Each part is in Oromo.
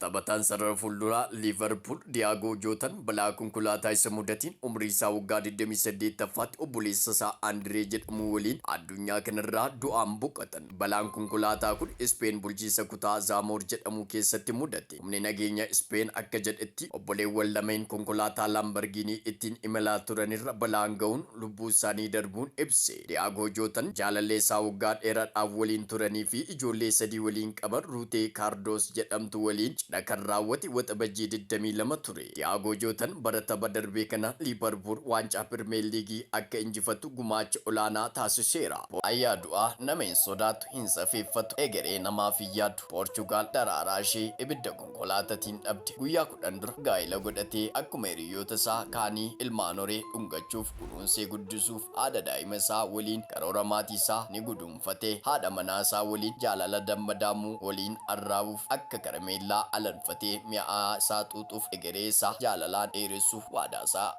Taphataan sarara fuulduraa Liivarpuul Diyaagoo Jootan balaa konkolaataa isa mudateen umrii isaa waggaa 28ffaatti obboleessa isaa Andiree jedhamu waliin addunyaa kanarraa du'aan boqatan. Balaan konkolaataa kun Ispeen bulchiinsa kutaa Zaamoor jedhamu keessatti mudate. Humni nageenya Ispeen akka jedhetti obboleewwan lameen konkolaataa Laambargiinii ittiin imalaa turanirra balaan ga'uun lubbuunsaanii darbuun ibse. Hiriyaa Goojoo tan jaalallee isaa waggaa dheeraadhaaf waliin turanii fi ijoollee sadii waliin qaban Ruutee Kaardoos jedhamtu waliin cidha kan raawwate Waxabajjii 22 ture. Hiriyaa Goojoo tan bara tapha darbee kana Liivarpuul waancaa Pirmeer Liigii akka injifattu gumaacha olaanaa taasiseera. Boo'aa yaadu a Nama hin sodaatu, hin safeeffatu, egeree namaaf hin yaadu. Poorchugaal daraaraa ishee ibidda konkolaatatiin dhabde. Guyyaa 10 dura gaa'ila godhatee akkuma hiriyyoota isaa kaanii ilmaan horee dhungachuuf, kunuunsee guddisuuf haadha daa'ima isaa waliin karoora maatii isaa ni guduunfate. Haadha manaa isaa waliin jaalala damma daamu waliin arraabuuf akka karameellaa alanfatee mi'aa isaa xuuxuuf egeree isaa jaalalaan dheeressuuf waadaa isaa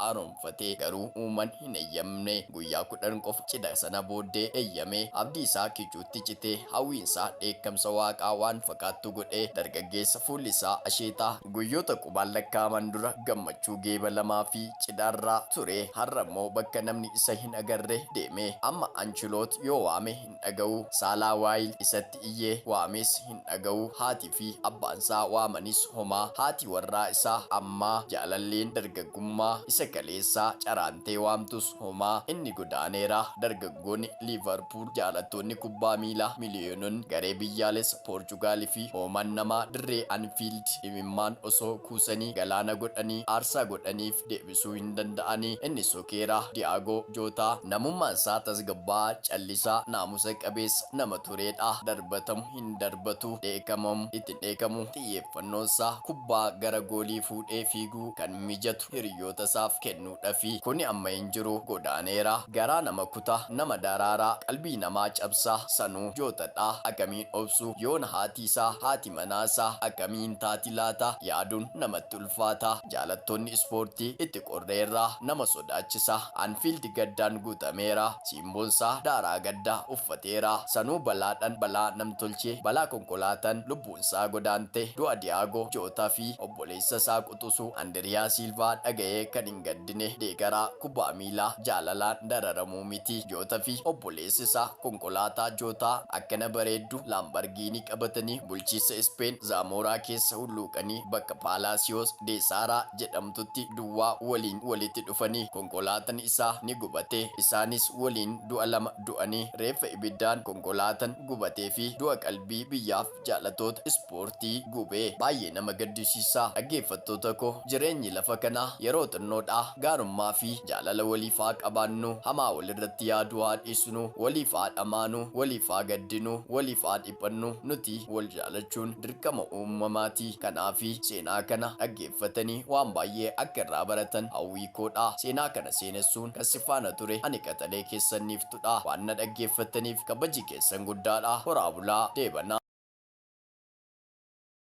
Fatee garuu uuman hin eyyamne. Guyyaa kudhan qofa cidha sana booddee eyyame. Abdii isaa kichuutti cite. Hawwiin isaa dheekkamsa Waaqaa waan fakaattu godhe. Dargaggeessa fuulli isaa asheetaa. Guyyoota qubaan lakkaa'aman dura gammachuu geeba lamaa fi cidha irraa ture har'a immoo bakka namni isa hin agarre deeme. Amma Anchiloot yoo waame hin. hin dhaga'u. Saalaa Waayil isatti iyye, waames hin dhaga'u. Haatii fi abbaansaa waamanis homaa. Haati warraa isaa ammaa, jaalalleen dargaggummaa isa kaleessaa caraantee waamtus homaa. Inni godaaneera. Dargaggoonni Liivarpuul, jaalattoonni kubbaa miilaa miliyoononni, garee biyyaalessa Poorchugaal fi hooman namaa dirree Anfiild imimmaan osoo kuusanii galaana godhanii aarsaa godhaniif deebi'aniiru. deebisuu hin danda'ani. Inni sokeera. Di'aagoo Jootaa namummaan isaa tasgabbaa'aa, callisaa, naamusa qabeessa nama tureedha. Darbatamu hin darbatu. Dheekamamu itti hin dheekamu. Xiyyeeffannoon isaa kubbaa gara goolii fuudhee fiiguu kan mijatu hiriyyoota isaaf kennuudhafi. Kuni amma hin jiru. Godaaneera. Garaa nama kuta. Nama daraara. Qalbii namaa cabsa. Sanuu Jootadha. Akamiin obsu? Yoona haati isaa, haati manaa isaa akkamii hin taati laata? Yaaduun namatti ulfaata. ulfaata jaalattoonni ispoortii itti qorreerra nama sodaachisa Anfield gaddaan guutameera Siimboonsaa daaraa gaddaa uffateera Sanuu balaadhan balaa namtolchee balaa konkolaatan lubbuunsaa godaante du'a Diyaagoo Jootaa fi obboleessasaa quxusuu Andiriyaa Siilvaa dhaga'ee kan hin gaddine deegaraa kubbaa miilaa jaalalaan dararamuu miti Joota fi obboleessaa Eessisa konkolaataa jootaa akkana bareeddu Laambargiinii qabatanii bulchiinsa Ispeen Zaamooraa keessa hulluuqanii bakka Paalaasiyoos dee Saaraa jedhamtutti duwwaa waliin walitti dhufanii konkolaatan isaa ni gubate. Isaanis waliin du'a lama du'anii reeffa ibiddaan konkolaatan gubatee fi du'a qalbii biyyaaf Jaalatoota ispoortii gubee baay'ee nama gaddisiisa dhaggeeffattoota koo jireenyi lafa kanaa yeroo xinnoodha gaarummaa fi jaalala waliif haa qabaannu hamaa walirratti yaaduu haa dhiisnu waliif haa dhamaanu waliif haa gaddinu waliif haa dhiphannu nuti wal jaalachuun dirqama uumamaati kanaafi seenaa kana dhaggeeffatanii waan baay'ee akka irraa baratan hawwii koodha seenaa kana seenessuun kan si faana ture ani qaxalee keessan niiftuu dha. Waan na dhaggeeffattaniif kabaji keessan guddaa dha. Horaa bulaa. Deebanaa.